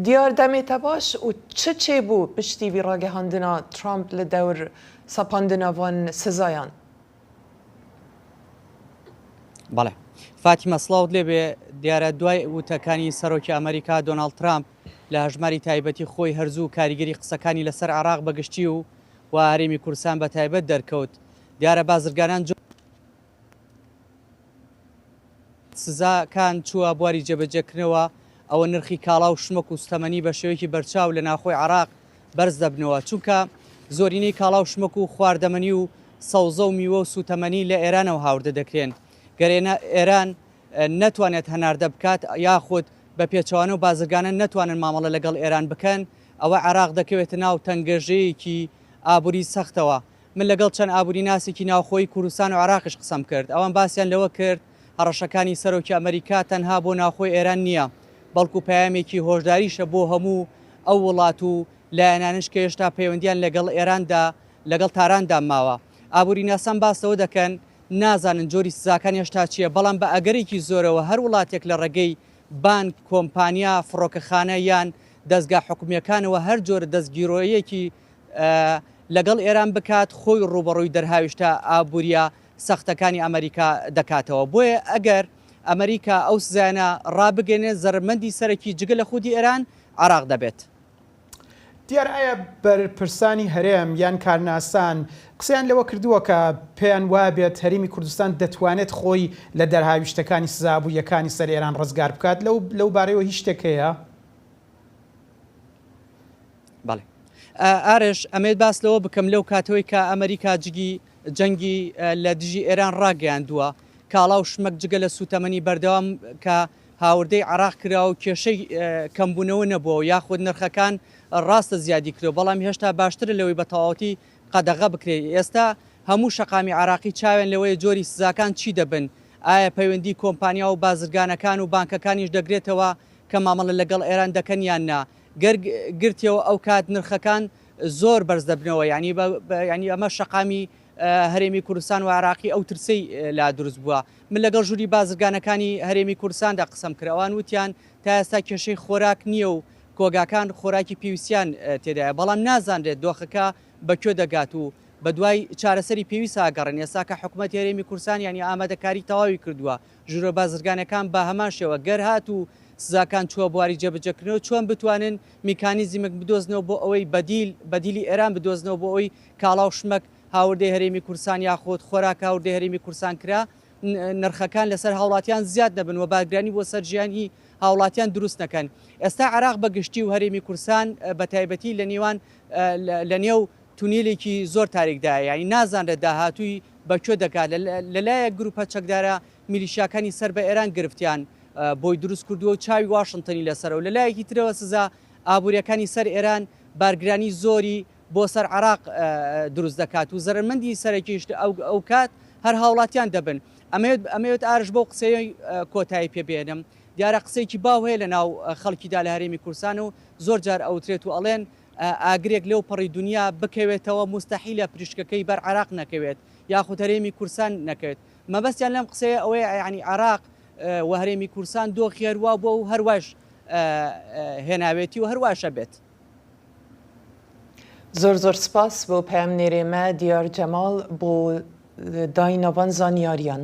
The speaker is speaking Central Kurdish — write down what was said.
دیار دەمێتە باش و چ چێ بو پشتی وی راگەهاندنا ترامپ لە دەور سەپاندنا وان سزایان؟ بەڵێ فاتیمە سڵاوت لێبێ، دیارە دوای وتەکانی سەرۆکی ئەمەریکا دۆناڵد ترامپ لە هەژماری تایبەتی خۆی هەر زوو کاریگەری قسەکانی لەسەر عێراق بەگشتی و و هەرێمی کوردستان بەتایبەت دەرکەوت، دیارە بازرگانان جۆ. سزا کان چووە بواری جێبەجێ کردنەوە ئەوە نرخی کاڵا و شمەک و ستەمەنی بە شێوەیەکی بەرچاو لە ناوخۆی عراق بەرز دەبنەوە چونکە زۆرینەی کاڵا و شمەک و خواردەمەنی و سەوزە و میوە و سوتەمەنی لە ئێرانەوە هاوردە دەکرێن گەر ئێران نەتوانێت هەناردە بکات یاخود بە پێچەوانە و بازرگانە نەتوانن مامەڵە لەگەڵ ئێران بکەن ئەوە عراق دەکەوێتە ناو تەنگەژەیەکی ئابوری سەختەوە من لەگەڵ چەند ئابووریناسێکی ناوخۆیی کوردستان و عێراقیش قسەم کرد، ئەوان باسیان لەوە کرد هەڕەشەکانی سەرۆکی ئەمەریکا تەنها بۆ ناوخۆی ئێران نییە، بەڵکو پەیامێکی هۆشداریشە بۆ هەموو ئەو وڵات و لایەنانش کە هێشتا پەیوەندییان لەگەڵ ئێراندا لەگەڵ تاراندا ماوە. ئابووریناسان باس لەوە دەکەن، نازانن جۆری سزاکان هێشتا چییە، بەڵام بە ئەگەرێکی زۆرەوە هەر وڵاتێک لە ڕێگەی بانک، کۆمپانیا، فڕۆکەخانە یان دەزگا حکومییەکانەوە هەر جۆرە دەستگیرۆیەکی لەگەڵ ئێران بکات خۆی ڕووبەڕووی دەرهاویشتە ئابووریە سەختەکانی ئەمەریکا دەکاتەوە بۆیە ئەگەر ئەمەریکا ئەو سزایانە ڕابگەێنێت زەرمەندی سەرەکی جگە لە خودی ئێران عێراق دەبێت. دیار ئایا بەرپرسانی هەرێم یان کارناسان قسەیان لەوە کردووە کە پێیان وابێت هەرێمی کوردستان دەتوانێت خۆی لە دەرهاویشتەکانی سزا ئابووریەکانی سەر ئێران ڕزگار بکات لەو لەو بارەیەوە هیچ شتێک هەیە؟ بەڵێ ئارش ئەمەوێت باس لەوە بکەم لەو کاتەوەی کە ئەمریکا جگی جەنگی لە دژی ئێران ڕاگەیاندووە کاڵا و شمەک جگە لە سووتەمەنی بەردەوام کە هاوردەی عێراق کراوە و کێشەی کەمبوونەوە نەبووە و یاخود نرخەکان ڕاستە زیادی کردووە بەڵام هێشتا باشترە لەوەی بە تەواوەتی قەدەغە بکرێت ئێستا هەموو شەقامی عێراقی چاویان لەوەیە جۆری سزاکان چی دەبن ئایا پەیوەندی کۆمپانیا و بازرگانەکان و بانکەکانیش دەگرێتەوە کە مامەڵە لەگەڵ ئێران دەکەن یان نا گەر گرتیەوە ئەوکات نرخەکان زۆر بەرز دەبنەوە یانی یانی ئەمە شەقامی هەرێمی کوردستان و عراقی ئەو ترسەی لا دروست بووە من لەگەڵ ژووری بازرگانەکانی هەرێمی کوردستاندا قسەم کرد ئەوان وتیان تا ئێستا کێشەی خۆراک نییە و کۆگاکان خۆراکی پێویستیان تێدایە بەڵام نازانرێت دۆخەکە بە کوێ دەگات و بە دوای چارەسەری پێویست ئاگەڕێن ئێستا کە حکوومەت هەرێمی کوردستان یانی ئامادەکاری تەواوی کردووە ژورە بازرگانەکان بە هەمان شێوە گەر هاتوو سزاکان چووە بواری جێبەجێکردنەوە چۆن بتوانن میکانیزیمێک بدۆزنەوە بۆ ئەوەی بەدیل، بەدیلی ئێران بدۆزنەوە بۆ ئەوەی کاڵا و شمەک هاوردەی هەرێمی کوردستان یاخود خۆراک هاوردەی هەرێمی کوردستان کرا نرخەکان لەسەر هاوڵاتیان زیاد نەبن و بارگرانی بۆ سەر ژیانی هاوڵاتیان دروست نەکەن ئێستا عێراق بە گشتی و هەرێمی کوردستان بە تایبەتی لە نیوان لە نێو تونێلێکی زۆر تاریکدایە یانی نازانرێت داهاتووی بە کوێ دەگات، لە لایەک گروپە چەکدارە میلیشیاکانی سەر بە ئێران گرفتیان بۆی دروست کردووە و چاوی واشنتنی لەسەرە و لە لایەکی ترەوە سزا ئابووریەکانی سەر ئێران بارگرانی زۆری بۆ سەر عێراق دروست دەکات و زەرەرمەندی سەرەکیش ئەوکات هەر هاوڵاتیان دەبن. ئەمەوێت ئەمەوێت ئارش بەو قسەیەی کۆتایی پێ بێنم دیارە قسەیەکی باو هەیە لە ناو خەڵکیدا لە هەرێمی کوردستان و زۆر جار ئەوترێت و ئەڵێن ئاگرێک لەو پەڕی دونیا بکەوێتەوە موستەحیلە پریشکەکەی بەر عێراق نەکەوێت یاخود هەرێمی کورسان نەکەوێت مەبەستیان لەم قسەیە ئەوەیە یەعنی عێراق و هەرێمی کورسان دۆخی هەروا بووە و هەروایش هێناوێتی و هەرواشە بێت. زۆر زۆر سپاس بۆ پەیامنێرێ مە دیار جەماڵ بۆ دایناڤان زانیاریان.